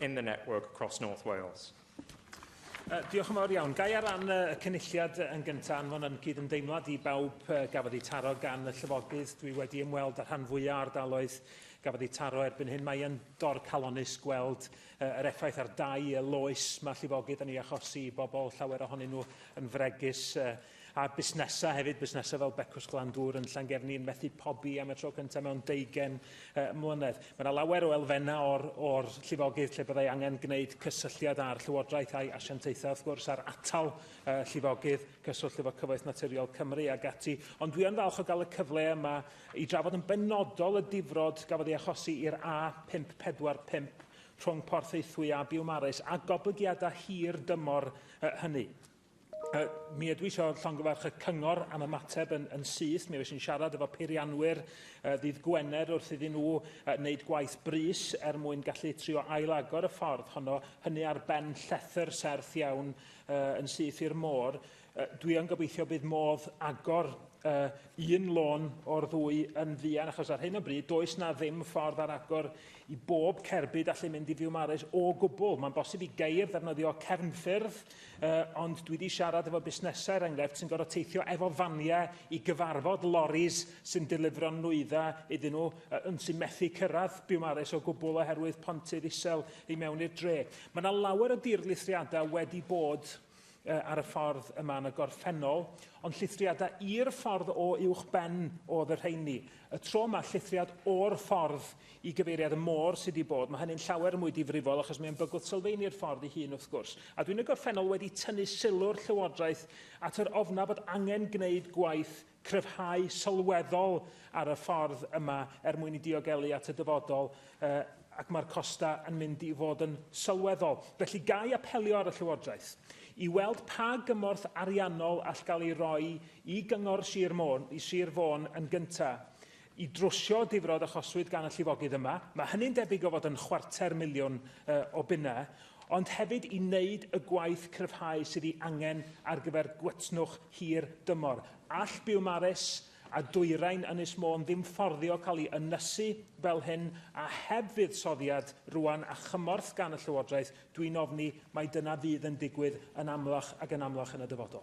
in the network across North Wales. Uh, diolch yn fawr iawn. Gai ar ran y cynulliad yn gyntaf anfon yn cyd-ymdeimlad i bawb uh, gafodd eu taro gan y llyfogydd. Dwi wedi ymweld â rhan fwyaf ardaloedd gafodd eu taro erbyn hyn. Mae yn dor calonus gweld uh, yr effaith ar dau y loes mae llifogydd yn ei achosi i bobl, llawer ohonyn nhw yn fregus uh, A busnesau hefyd, busnesau fel Becws Glandŵr yn Llangefni yn methu pobi am y tro cyntaf mewn deugen uh, mlynedd. Mae yna lawer o elfennau o'r, or llifogydd lle byddai angen gwneud cysylltiad â'r llywodraeth a'i asiantaethau, wrth gwrs, a'r atal uh, llifogydd, cyswllt efo Cyfoeth Naturiol Cymru ac ati. Ond dwi yn falch o gael y cyfle yma i drafod yn benodol y difrod gafodd ei achosi i'r A545 rhwng Porth Eithwy a Biwmaris a goblygiadau hir dymor uh, hynny. Uh, mi ydw i eisiau llongyfarch y cyngor am y mateb yn, yn syth. Mi oes yn siarad efo peirianwyr uh, ddydd Gwener wrth iddyn nhw uh, wneud gwaith brys er mwyn gallu trio ailagor y ffordd honno, hynny ar ben llethr serth iawn uh, yn syth i'r môr. Uh, dwi yn gobeithio bydd modd agor uh, un lôn o'r ddwy yn fuan, achos ar hyn o bryd, does na ddim ffordd ar agor i bob cerbyd allu mynd i Fiwmares o gwbl. Mae'n bosib i geir ddefnyddio cefnffyrdd Uh, ond dwi wedi siarad efo busnesau, er enghraifft, sy'n gorfod teithio efo faniau i gyfarfod loris sy'n delifro nwyddau iddyn nhw, uh, yn sy'n methu cyrraedd Biwmares o gwbl oherwydd pontydd isel i mewn i'r dre. Mae yna lawer o dirlithriadau wedi bod uh, ar y ffordd yma yn y gorffennol, ond llithriadau i'r ffordd o uwch ben oedd y rheini. Y tro yma, llithriad o'r ffordd Y gyfeiriad 'y môr' sydd wedi bod, mae hynny'n llawer mwy difrifol achos mae'n bygwth sylfaenu'r ffordd ei hun wrth gwrs. A dwi'n y gorffennol wedi tynnu sylw'r Llywodraeth at yr ofnaf bod angen gwneud gwaith cryfhau sylweddol ar y ffordd yma er mwyn i diogelu at y dyfodol uh, ac mae'r costau yn mynd i fod yn sylweddol. Felly ga i apelio ar y Llywodraeth i weld pa gymorth ariannol all gael ei roi i gyngor Sir Môn, i Sir Fôn yn gyntaf, i drwsio difrod achoswyd gan y llifogydd yma, mae hynny'n debyg o fod yn chwarter miliwn o bunnau, ond hefyd i wneud y gwaith cryfhau sydd ei angen ar gyfer gwytnwch hir dymor. All Biwmaris a Dwyrain Ynys Môn ddim fforddio cael ei ynysu fel hyn a heb fuddsoddiad rŵan a chymorth gan y Llywodraeth, dwi'n ofni mai dyna fydd yn digwydd yn amlach ac yn amlach yn y dyfodol.